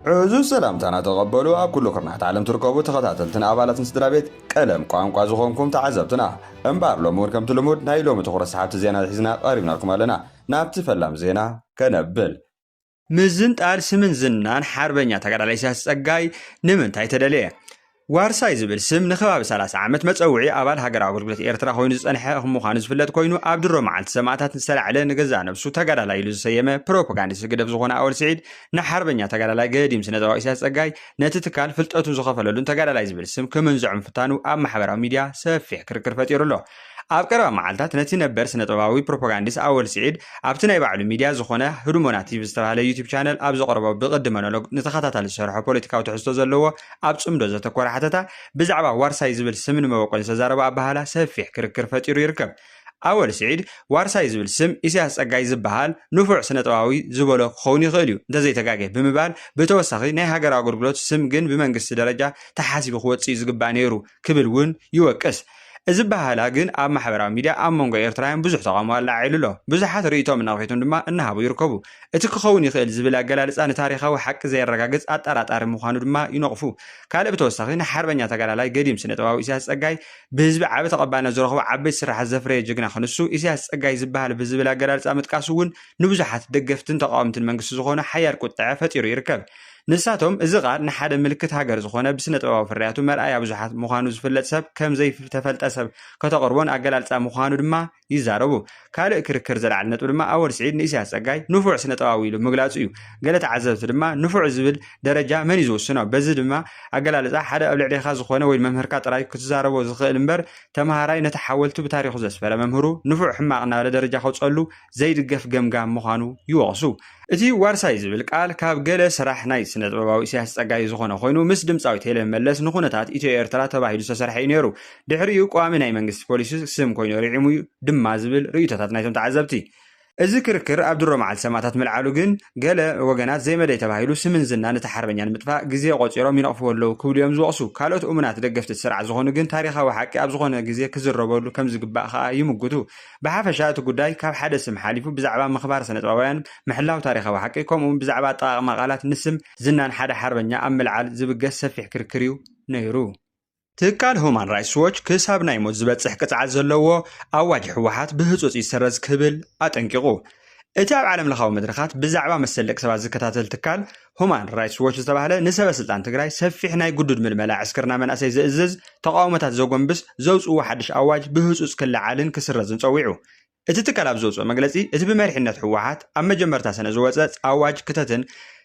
ዕዙዝ ሰላምታና ተቐበሉ ኣብ ኩሉ ኩርናሕት ዓለም ትርከቡ ተኸታተልትን ኣባላትን ስድራቤት ቀለም ቋንቋ ዝኾንኩም ተዓዘብትና። እምበኣር ሎሚ ውን ከምቲ ልሙድ ናይ ሎሚ ትኹረት ሰሓብቲ ዜና ሒዝና ቀሪብናልኩም ኣለና። ናብቲ ፈላም ዜና ከነብል። ምዝንጣል ስምን ዝናን ሓርበኛ ተጋዳላይ ኢሳያስ ጸጋይ ንምንታይ ተደልየ? ዋርሳይ ዝብል ስም ንከባቢ ሰላሳ ዓመት መጸውዒ ኣባል ሃገራዊ ኣገልግሎት ኤርትራ ኮይኑ ዝጸንሐ ምዃኑ ዝፍለጥ ኮይኑ፣ ኣብ ድሮ መዓልቲ ሰማእታት ዝተላዕለ ንገዛእ ነብሱ ተጋዳላይ ኢሉ ዝሰየመ ፕሮፖጋንዲስት ህግደፍ ዝኾነ ኣወል ስዒድ ንሓርበኛ ተጋዳላይ ገዲም ስነጥበባዊ ኢሳያስ ጸጋይ ነቲ ትካል ፍልጠቱ ዝኸፈለሉን ተጋዳላይ ዝብል ስም ክምንዝዖ ምፍታኑ ኣብ ማሕበራዊ ሚድያ ሰፊሕ ክርክር ፈጢሩ ኣሎ። ኣብ ቀረባ መዓልታት ነቲ ነበር ስነጥበባዊ ፕሮፖጋንዲስ ኣወል ስዒድ ኣብቲ ናይ ባዕሉ ሚድያ ዝኾነ ህዱሞና ቲቪ ዝተባህለ ዩቲብ ቻነል ኣብ ዘቕረቦ ብቕዲ መኖሎግ ንተኸታታሊ ዝሰርሖ ፖለቲካዊ ትሕዝቶ ዘለዎ ኣብ ጽምዶ ዘተኮረ ሓተታ ብዛዕባ ዋርሳይ ዝብል ስምን መበቆልን ዝተዛረቦ ኣበሃህላ ሰፊሕ ክርክር ፈጢሩ ይርከብ። ኣወል ስዒድ ዋርሳይ ዝብል ስም ኢሳያስ ጸጋይ ዝበሃል ንፉዕ ስነጥበባዊ ዝበሎ ክኸውን ይኽእል እዩ እንተዘይተጋጌ ብምባል ብተወሳኺ ናይ ሃገራዊ ኣገልግሎት ስም ግን ብመንግስቲ ደረጃ ተሓሲቡ ክወጽእ እዩ ዝግባእ ነይሩ ክብል እውን ይወቅስ። እዚ ኣበሃህላ ግን ኣብ ማሕበራዊ ሚድያ ኣብ መንጎ ኤርትራውያን ብዙሕ ተቓውሞ ኣለዓዒሉ ኣሎ። ብዙሓት ርእይቶኦም እናኣውሒቱን ድማ እናሃቡ ይርከቡ። እቲ ክኸውን ይኽእል ዝብል ኣገላልጻ ንታሪኻዊ ሓቂ ዘየረጋግጽ ኣጠራጣሪ ምዃኑ ድማ ይነቕፉ። ካልእ ብተወሳኺ ንሓርበኛ ተጋዳላይ ገዲም ስነጥበባዊ ኢሳያስ ጸጋይ ብህዝቢ ዓቢ ተቐባልነት ዝረኽቡ ዓበይቲ ስርሓት ዘፍረየ ጅግና ክንሱ ኢሳያስ ጸጋይ ዝበሃል ብዝብል ኣገላልጻ ምጥቃሱ እውን ንብዙሓት ደገፍትን ተቓወምትን መንግስቲ ዝኾኑ ሓያል ቁጠዐ ፈጢሩ ይርከብ። ንሳቶም እዚ ቃል ንሓደ ምልክት ሃገር ዝኾነ ብስነጥበባዊ ፍርያቱ መርኣያ ብዙሓት ምዃኑ ዝፍለጥ ሰብ ከም ዘይተፈልጠ ሰብ ከተቕርቦን ኣገላልጻ ምዃኑ ድማ ይዛረቡ። ካልእ ክርክር ዘልዓለ ነጥቢ ድማ ኣወል ስዒድ ንኢሳያስ ጸጋይ ንፉዕ ስነጥበባዊ ኢሉ ምግላጹ እዩ። ገለ ተዓዘብቲ ድማ ንፉዕ ዝብል ደረጃ መን እዩ ዝውስኖ? በዚ ድማ ኣገላልጻ ሓደ ኣብ ልዕሌኻ ዝኾነ ወይ መምህርካ ጥራዩ ክትዛረቦ ዝኽእል እምበር ተመሃራይ ነቲ ሓወልቱ ብታሪኹ ዘስፈረ መምህሩ ንፉዕ ሕማቕ እናበለ ደረጃ ከውጸሉ ዘይድገፍ ገምጋም ምዃኑ ይወቕሱ። እቲ ዋርሳይ ዝብል ቃል ካብ ገለ ስራሕ ናይ ስነጥበባዊ ኢሳያስ ጸጋይ ዝኾነ ኮይኑ ምስ ድምጻዊት ሄለን መለስ ንኩነታት ኢትዮ ኤርትራ ተባሂሉ ዝተሰርሐ እዩ ነይሩ። ድሕሪኡ ቀዋሚ ናይ መንግስቲ ፖሊሲ ስም ኮይኑ ርዒሙ ድማ ዝብል ርእይቶታት ናይቶም ተዓዘብቲ። እዚ ክርክር ኣብ ድሮ መዓልቲ ሰማእታት ምልዓሉ ግን ገለ ወገናት ዘይመደይ ተባሂሉ ስምን ዝናን እቲ ሓርበኛ ንምጥፋእ ግዜ ቆጺሮም ይነቕፍዎ ኣለዉ ክብሉ እዮም ዝወቕሱ። ካልኦት እሙናት ደገፍቲ እቲ ስርዓት ዝኾኑ ግን ታሪኻዊ ሓቂ ኣብ ዝኾነ ግዜ ክዝረበሉ ከምዝግባእ ከኣ ይምጉቱ። ብሓፈሻ እቲ ጉዳይ ካብ ሓደ ስም ሓሊፉ ብዛዕባ ምኽባር ስነጥበባውያን፣ ምሕላው ታሪኻዊ ሓቂ፣ ከምኡ'ውን ብዛዕባ ኣጠቓቕማ ቃላት ንስም ዝናን ሓደ ሓርበኛ ኣብ ምልዓል ዝብገስ ሰፊሕ ክርክር'ዩ ነይሩ። ትካል ሁማን ራይትስ ዎች ክሳብ ናይ ሞት ዝበጽሕ ቅጽዓት ዘለዎ ኣዋጅ ህወሓት ብህጹጽ ይሰረዝ ክብል ኣጠንቂቑ። እቲ ኣብ ዓለምለኻዊ መድረኻት ብዛዕባ መሰል ደቂ ሰባት ዝከታተል ትካል ሁማን ራይትስ ዎች ዝተባህለ ንሰበ ስልጣን ትግራይ ሰፊሕ ናይ ግዱድ ምልመላ ዕስክርና መናእሰይ ዘእዝዝ ተቃውሞታት ዘጎንብስ ዘውፅዎ ሓድሽ ኣዋጅ ብህፁፅ ክለዓልን ክስረዝን ፀዊዑ። እቲ ትካል ኣብ ዘውፅኦ መግለፂ እቲ ብመሪሕነት ህወሓት ኣብ መጀመርታ ሰነ ዝወፀ ኣዋጅ ክተትን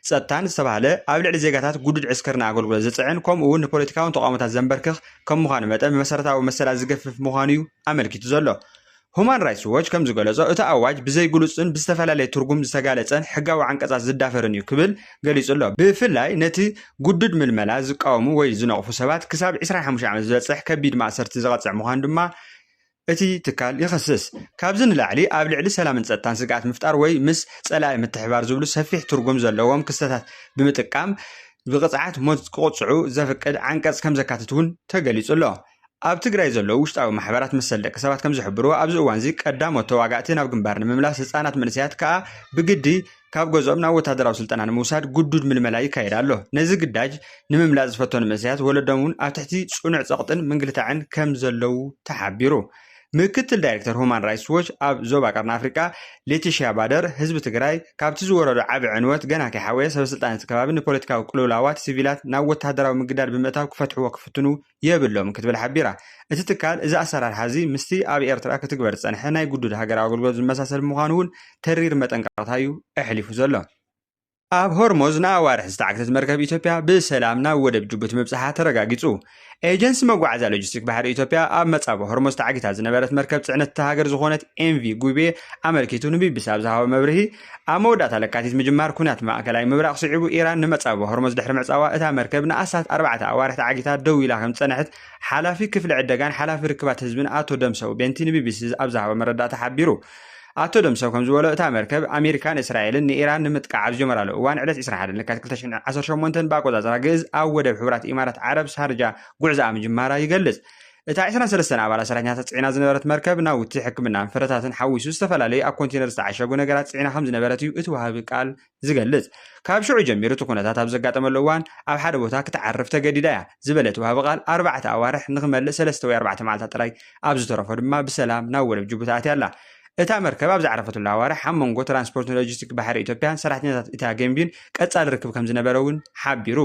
ጸጥታን ዝተባህለ ኣብ ልዕሊ ዜጋታት ግዱድ ዕስክርና ኣገልግሎት ዝፅዕን ከምኡ እውን ንፖለቲካውን ተቃውሞታት ዘንበርክኽ ከም ምዃኑ መጠን ብመሰረታዊ መሰላት ዝገፍፍ ምዃኑ እዩ ኣመልኪቱ ዘሎ። ሁማን ራይትስ ዎች ከም ዝገለጾ፣ እቲ ኣዋጅ ብዘይግሉጽን ብዝተፈላለየ ትርጉም ዝተጋለጸን ሕጋዊ ዓንቀጻት ዝዳፈርን እዩ ክብል ገሊጹ ኣሎ። ብፍላይ ነቲ ግዱድ ምልመላ ዝቃወሙ ወይ ዝነቕፉ ሰባት ክሳብ ዕስራን ሓሙሽተን ዓመት ዝበጽሕ ከቢድ ማእሰርቲ ዝቐጽዕ ምዃኑ ድማ እቲ ትካል ይኸስስ። ካብዚ ንላዕሊ ኣብ ልዕሊ ሰላምን ጸጥታን ስግኣት ምፍጣር ወይ ምስ ጸላኢ ምትሕብባር ዝብሉ ሰፊሕ ትርጉም ዘለዎም ክስተታት ብምጥቃም ብቕጽዓት ሞት ክቕጽዑ ዘፍቅድ ዓንቀጽ ከም ዘካትት እውን ተገሊጹ ኣሎ። ኣብ ትግራይ ዘለዉ ውሽጣዊ ማሕበራት መሰል ደቂ ሰባት ከም ዝሕብርዎ ኣብዚ እዋንዚ ቀዳሞት ተዋጋእቲ ናብ ግንባር ንምምላስ ህፃናት መንእሰያት ከኣ ብግዲ ካብ ገዝኦም ናብ ወታደራዊ ስልጠና ንምውሳድ ግዱድ ምልመላ ይካየድ ኣሎ። ነዚ ግዳጅ ንምምላጥ ዝፈተኑ መንእሰያት ወለዶም እውን ኣብ ትሕቲ ፅኑዕ ፀቕጥን ምንግልታዕን ከም ዘለዉ ተሓቢሩ። ምክትል ዳይሬክተር ሁማን ራይትስ ዎች ኣብ ዞባ ቀርኒ ኣፍሪቃ ሌቲሽያ ባደር ህዝቢ ትግራይ ካብቲ ዝወረዶ ዓቢ ዕንወት ገና ከይሓወየ ሰበስልጣን እቲ ከባቢ ንፖለቲካዊ ቅልውላዋት ሲቪላት ናብ ወታደራዊ ምግዳድ ብምእታው ክፈትሕዎ ክፍትኑ የብሎምን ክትብል ሓቢራ። እቲ ትካል እዚ ኣሰራርሓ እዚ ምስቲ ኣብ ኤርትራ ክትግበር ዝጸንሐ ናይ ግዱድ ሃገራዊ ኣገልግሎት ዝመሳሰል ብምዃኑ እውን ተሪር መጠንቀቕታ እዩ ኣሕሊፉ ዘሎ። ኣብ ሆርሞዝ ንኣዋርሕ ዝተዓግተት መርከብ ኢትዮጵያ ብሰላም ናብ ወደብ ጅቡቲ ምብጻሓ ተረጋጊጹ። ኤጀንሲ መጓዓዝያ ሎጂስቲክ ባሕሪ ኢትዮጵያ ኣብ መጻብቦ ሆርሞዝ ተዓጊታ ዝነበረት መርከብ ጽዕነት እታ ሃገር ዝኾነት ኤምቪ ጉቤ ኣመልኪቱ ንቢቢሲ ኣብ ዝሃቦ መብርሂ፣ ኣብ መወዳእታ ለካቲት ምጅማር ኲናት ማእከላይ ምብራቕ ስዒቡ፣ ኢራን ንመጻብቦ ሆርሞዝ ድሕሪ ምዕጻዋ፣ እታ መርከብ ንኣስታት ኣርባዕተ ኣዋርሕ ተዓጊታ ደው ኢላ ከም ዝጸንሐት ሓላፊ ክፍሊ ዕደጋን ሓላፊ ርክባት ህዝብን ኣቶ ደምሰው ቤንቲ ንቢቢሲ ኣብ ዝሃቦ መረዳእታ ሓቢሩ። ኣቶ ደምሰው ከም ዝበሎ፣ እታ መርከብ፣ ኣሜሪካን እስራኤልን ንኢራን ንምጥቃዕ ኣብ ዝጀመራሉ እዋን ዕለት ዕስራን ሓደን ለካቲት ክልተ ሽሕን ዓሰርተ ሸሞንተን ብኣቆጻጽራ ግእዝ ኣብ ወደብ ሕቡራት ኢማራት ዓረብ ሻርጃ ጉዕዞኣ ምጅማራ ይገልጽ። እታ ዕስራን ሰለስተን ኣባላት ሰራሕተኛታት ጽዒና ዝነበረት መርከብ ናውቲ ሕክምናን ፍረታትን ሓዊሱ ዝተፈላለዩ ኣብ ኮንቴነር ዝተዓሸጉ ነገራት ጽዒና ከም ዝነበረት እዩ እቲ ወሃቢ ቃል ዝገልጽ። ካብ ሽዑ ጀሚሩ እቲ ኩነታት ኣብ ዘጋጠመሉ እዋን ኣብ ሓደ ቦታ ክትዓርፍ ተገዲዳ እያ ዝበለ እቲ ወሃቢ ቃል ኣርባዕተ ኣዋርሕ ንክመልእ ሰለስተ ወይ ኣርባዕተ መዓልታት ጥራይ ኣብ ዝተረፎ ድማ ብሰላም ናብ ወደብ ጅቡቲ ኣትያ ኣላ። እታ መርከብ ኣብ ዝዓረፈትሉ ኣዋርሕ ኣብ መንጎ ትራንስፖርትን ሎጂስቲክ ባሕሪ ኢትዮጵያን ሰራሕተኛታት እታ ገምቢን ቀጻሊ ርክብ ከም ዝነበረ እውን ሓቢሩ።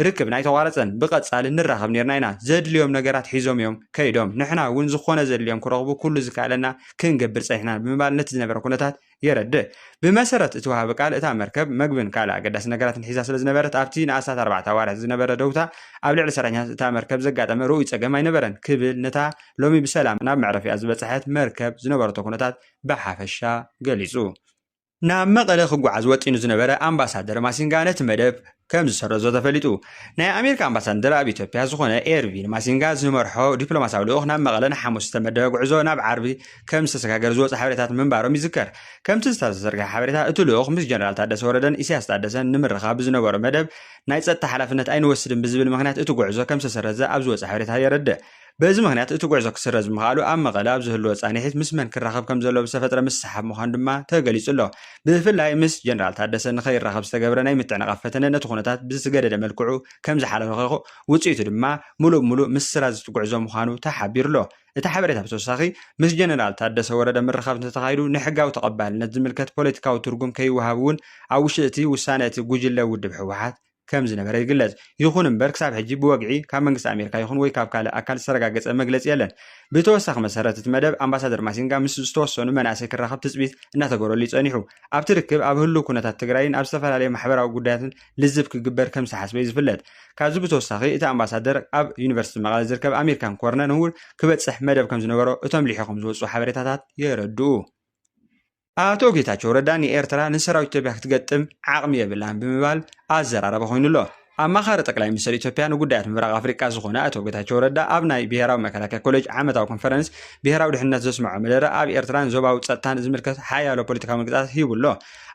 ርክብና ኣይተቋረጸን ብቀጻሊ ንራኸብ ኔርና ኢና ዘድልዮም ነገራት ሒዞም እዮም ከይዶም ንሕና እውን ዝኾነ ዘድልዮም ክረኽቡ ኩሉ ዝከኣለና ክንገብር ጸኒሕና ብምባል ነቲ ዝነበረ ኩነታት የረድእ ብመሰረት እቲ ወሃቢ ቃል እታ መርከብ መግብን ካልእ ኣገዳሲ ነገራትን ሒዛ ስለ ዝነበረት ኣብቲ ንኣስታት ኣርባዕተ ኣዋርሕ ዝነበረ ደውታ ኣብ ልዕሊ ሰራሕተኛታት እታ መርከብ ዘጋጠመ ርኡይ ጸገም ኣይነበረን ክብል ነታ ሎሚ ብሰላም ናብ መዕረፊኣ ዝበጽሐት መርከብ ዝነበረቶ ኩነታት ብሓፈሻ ገሊጹ ናብ መቐለ ክጓዓዝ ወጢኑ ዝነበረ ኣምባሳደር ማሲንጋ ነቲ መደብ ከም ዝሰረዞ ተፈሊጡ። ናይ ኣሜሪካ ኣምባሳደር ኣብ ኢትዮጵያ ዝኾነ ኤርቪን ማሲንጋ ዝመርሖ ዲፕሎማስያዊ ልኡኽ ናብ መቐለ ንሓሙስ ዝተመደበ ጉዕዞ ናብ ዓርቢ ከም ዝተሰጋገረ ዝወፁ ሓበሬታት ምንባሮም ይዝከር። ከምቲ ዝተዘርግሐ ሓበሬታ እቲ ልኡኽ ምስ ጀነራል ታደሰ ወረደን ኢሳያስ ታደሰን ንምርኻብ ብዝነበሮ መደብ ናይ ፀጥታ ሓላፍነት ኣይንወስድን ብዝብል ምኽንያት እቲ ጉዕዞ ከም ዝተሰረዘ ኣብ ዝወፀ ሓበሬታ የረድእ። በዚ ምኽንያት እቲ ጉዕዞ ክስረዝ ብምኽኣሉ ኣብ መቐለ ኣብ ዝህልዎ ፃንሒት ምስ መን ክራኸብ ከምዘለዎ ብዝተፈጥረ ምስሕሓብ ምዃኑ ድማ ተገሊፁ ኣሎ። ብፍላይ ምስ ጀነራል ታደሰ ንከይራኸብ ዝተገብረ ናይ ምትዕንቓፍ ፈተነ ነቲ ኩነታት ብዝገደደ መልክዑ ከምዝሓለኸኸ ውፅኢቱ ድማ ሙሉእ ብሙሉእ ምስራዝ እቲ ጉዕዞ ምዃኑ ተሓቢሩ ኣሎ። እቲ ሓበሬታ ብተወሳኺ ምስ ጀነራል ታደሰ ወረደ ምርኻብ እንተተኻይዱ ንሕጋዊ ተቐባልነት ዝምልከት ፖለቲካዊ ትርጉም ከይወሃብ እውን ኣብ ውሽጢ እቲ ውሳነ እቲ ጉጅለ ውድብ ህወሓት ከም ዝነበረ ይግለጽ። ይኹን እምበር ክሳብ ሕጂ ብወግዒ ካብ መንግስቲ ኣሜሪካ ይኹን ወይ ካብ ካልእ ኣካል ዝተረጋገጸ መግለጺ የለን። ብተወሳኺ መሰረት እቲ መደብ ኣምባሳደር ማሲንጋ ምስ ዝተወሰኑ መናእሰይ ክራኸብ ትጽቢት እናተገበረሉ እዩ ጸኒሑ። ኣብቲ ርክብ ኣብ ህሉው ኩነታት ትግራይን ኣብ ዝተፈላለዩ ማሕበራዊ ጉዳያትን ልዝብ ክግበር ከም ዝተሓስበ እዩ ዝፍለጥ። ካብዚ ብተወሳኺ እቲ ኣምባሳደር ኣብ ዩኒቨርሲቲ መቐለ ዝርከብ ኣሜሪካን ኮርነን እውን ክበጽሕ መደብ ከም ዝነበሮ እቶም ልሒኾም ዝወጽኡ ሓበሬታታት የረድኡ። ኣቶ ጌታቸው ረዳ ንኤርትራ ንሰራዊት ኢትዮጵያ ክትገጥም ዓቕሚ የብላን ብምባል ኣዘራረባ ኮይኑ ኣሎ። ኣማኻሪ ጠቅላይ ሚኒስትር ኢትዮጵያ ንጉዳያት ምብራቕ ኣፍሪቃ ዝኾነ ኣቶ ጌታቸው ረዳ ኣብ ናይ ብሔራዊ መከላከያ ኮሌጅ ዓመታዊ ኮንፈረንስ ብሔራዊ ድሕነት ዘስምዖ መደረ ኣብ ኤርትራን ዞባዊ ጸጥታን ዝምልከት ሓያሎ ፖለቲካዊ መግለጻት ሂቡ ኣሎ።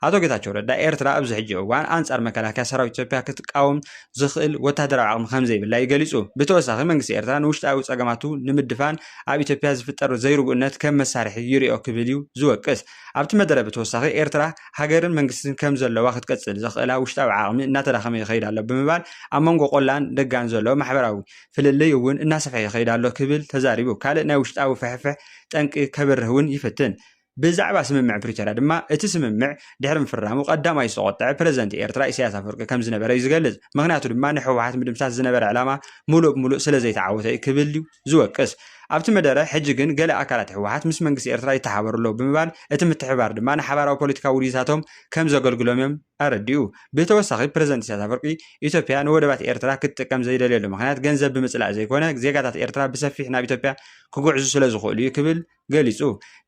ኣቶ ጌታቸው ረዳ ኤርትራ ኣብዚ ሕጂ እዋን ኣንጻር መከላከያ ሰራዊት ኢትዮጵያ ክትቃወም ዝኽእል ወተሃደራዊ ዓቕሚ ከምዘይብላ እዩ ገሊጹ። ብተወሳኺ መንግስቲ ኤርትራ ንውሽጣዊ ጸገማቱ ንምድፋን ኣብ ኢትዮጵያ ዝፍጠር ዘይርጉእነት ከም መሳርሒ ይሪኦ ክብል እዩ ዝወቅስ። ኣብቲ መደረ ብተወሳኺ ኤርትራ ሃገርን መንግስትን ከም ዘለዋ ክትቅጽል ዘኽእላ ውሽጣዊ ዓቕሚ እናተዳኸመ ይኸይድ ኣሎ ብምባል ኣብ መንጎ ቆላን ደጋን ዘሎ ማሕበራዊ ፍልልይ እውን እናሰፍሐ ይኸይድ ኣሎ ክብል ተዛሪቡ። ካልእ ናይ ውሽጣዊ ፍሕፍሕ ጠንቂ ከብርህ እውን ይፍትን። ብዛዕባ ስምምዕ ፕሪቶርያ ድማ እቲ ስምምዕ ድሕሪ ምፍራሙ ቀዳማዩ ዝተቖጠዐ ፕረዚደንት ኤርትራ ኢሳያስ ኣፈወርቂ ከም ዝነበረ እዩ ዝገልጽ። ምኽንያቱ ድማ ንሕወሓት ምድምሳስ ዝነበረ ዕላማ ምሉእ ብምሉእ ስለ ዘይተዓወተ እዩ ክብል እዩ ዝወቅስ። ኣብቲ መደረ ሕጂ ግን ገለ ኣካላት ሕወሓት ምስ መንግስቲ ኤርትራ ይተሓባበሩ ኣለዉ ብምባል እቲ ምትሕብባር ድማ ንሓባራዊ ፖለቲካዊ ውዲታቶም ከም ዘገልግሎም እዮም ኣረዲኡ። ብተወሳኺ ፕረዚደንት ኢሳያስ ኣፈወርቂ ኢትዮጵያ ንወደባት ኤርትራ ክትጥቀም ዘይደልየሉ ምኽንያት ገንዘብ ብምጽላእ ዘይኮነ ዜጋታት ኤርትራ ብሰፊሕ ናብ ኢትዮጵያ ክጉዕዙ ስለ ዝኽእሉ እዩ ክብል ገሊጹ።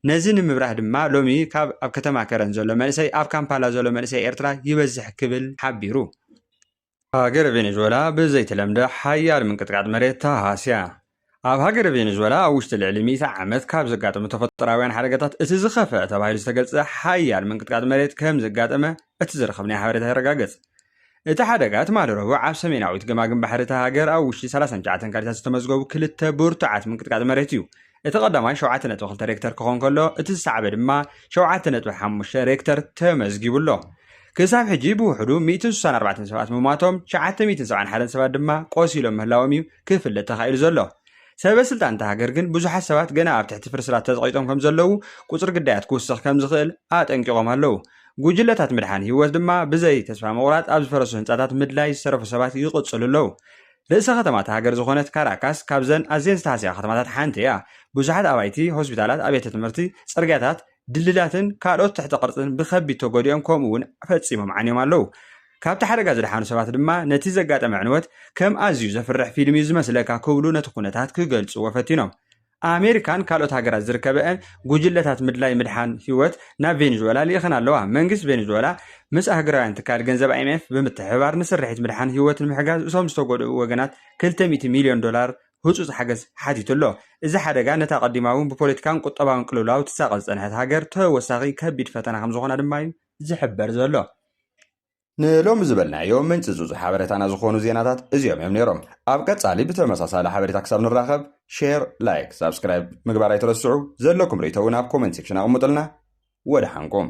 ነዚ ንምብራህ ድማ ሎሚ ካብ ኣብ ከተማ ከረን ዘሎ መንእሰይ ኣብ ካምፓላ ዘሎ መንእሰይ ኤርትራ ይበዝሕ ክብል ሓቢሩ። ሃገረ ቬኔዙዌላ ብዘይተለምደ ሓያል ምንቅጥቃጥ መሬት ተሃስያ። ኣብ ሃገረ ቬኔዙዌላ ኣብ ውሽጢ ልዕሊ ሚእቲ ዓመት ካብ ዘጋጠሙ ተፈጥሮኣውያን ሓደጋታት እቲ ዝኸፍአ ተባሂሉ ዝተገልጸ ሓያል ምንቅጥቃጥ መሬት ከም ዘጋጠመ እቲ ዝረኸብናዮ ሓበሬታ የረጋግጽ። እቲ ሓደጋ ትማሊ ረቡዕ ኣብ ሰሜናዊት ገማግም ባሕሪ እታ ሃገር ኣብ ውሽጢ ሰላሳን ትሽዓተን ካሊታት ዝተመዝገቡ ክልተ ብርቱዓት ምንቅጥቃጥ መሬት እዩ። እቲ ቀዳማይ ሸውዓተ ነጥቢ ክልተ ሬክተር ክኾን ከሎ እቲ ዝሰዓበ ድማ ሸውዓተ ነጥቢ ሓሙሽተ ሬክተር ተመዝጊቡ ኣሎ። ክሳብ ሕጂ ብውሕዱ ሚእትን ስሳን ኣርባዕተን ሰባት ምሟቶም፣ ትሽዓተ ሚእትን ሰብዓን ሓደን ሰባት ድማ ቆሲሎም ምህላዎም እዩ ክፍለጥ ተኻኢሉ ዘሎ። ሰበ ስልጣን እታ ሃገር ግን ብዙሓት ሰባት ገና ኣብ ትሕቲ ፍርስራት ተጸቒጦም ከምዘለዉ፣ ቁጽሪ ግዳያት ክውስኽ ከምዝኽእል ኣጠንቂቖም ኣለዉ። ጉጅለታት ምድሓን ህይወት ድማ ብዘይ ተስፋ ምቑራጽ ኣብ ዝፈረሱ ህንጻታት ምድላይ ዝተረፉ ሰባት ይቕጽሉ ኣለዉ። ርእሰ ከተማ እታ ሃገር ዝዀነት ካራካስ ካብዘን ኣዝየን ዝተሃስያ ከተማታት ሓንቲ እያ። ብዙሓት ኣባይቲ፣ ሆስፒታላት፣ ኣብያተ ትምህርቲ፣ ጽርግያታት፣ ድልድላትን ካልኦት ትሕተ ቅርጽን ብከቢድ ተጐዲኦም ከምኡ'ውን ፈጺሞም ዓንዮም ኣለዉ። ካብቲ ሓደጋ ዝደሓኑ ሰባት ድማ ነቲ ዘጋጠመ ዕንወት ከም ኣዝዩ ዘፍርሕ ፊልም እዩ ዝመስለካ ክብሉ ነቲ ኵነታት ክገልጽዎ ፈቲኖም። ኣሜሪካን ካልኦት ሃገራት ዝርከበአን ጉጅለታት ምድላይ ምድሓን ህይወት ናብ ቬኔዙዌላ ልኢኸን ኣለዋ። መንግስቲ ቬኔዙዌላ ምስ ኣህግራውያን ትካል ገንዘብ ኣይኤምኤፍ ብምትሕብባር ንስርሒት ምድሓን ህይወት ንምሕጋዝ እቶም ዝተጎድኡ ወገናት ክልተ ሚእቲ ሚልዮን ዶላር ህጹጽ ሓገዝ ሓቲቱ ኣሎ። እዚ ሓደጋ ነታ ቀዲማ እውን ብፖለቲካን ቁጠባውን ቅልውላው ትሳቐ ዝጸንሐት ሃገር ተወሳኺ ከቢድ ፈተና ከም ዝኾና ድማ እዩ ዝሕበር ዘሎ። ንሎሚ ዝበልናዮ ምንጪ ዙዙ ሓበሬታና ዝኾኑ ዜናታት እዚኦም እዮም ነይሮም። ኣብ ቀጻሊ ብተመሳሳሊ ሓበሬታ ክሳብ ንራኸብ ሼር፣ ላይክ፣ ሳብስክራይብ ምግባር ኣይትረስዑ። ዘለኩም ርእይቶ እውን ኣብ ኮመንት ሴክሽን ኣቕምጡልና። ወደሓንኩም።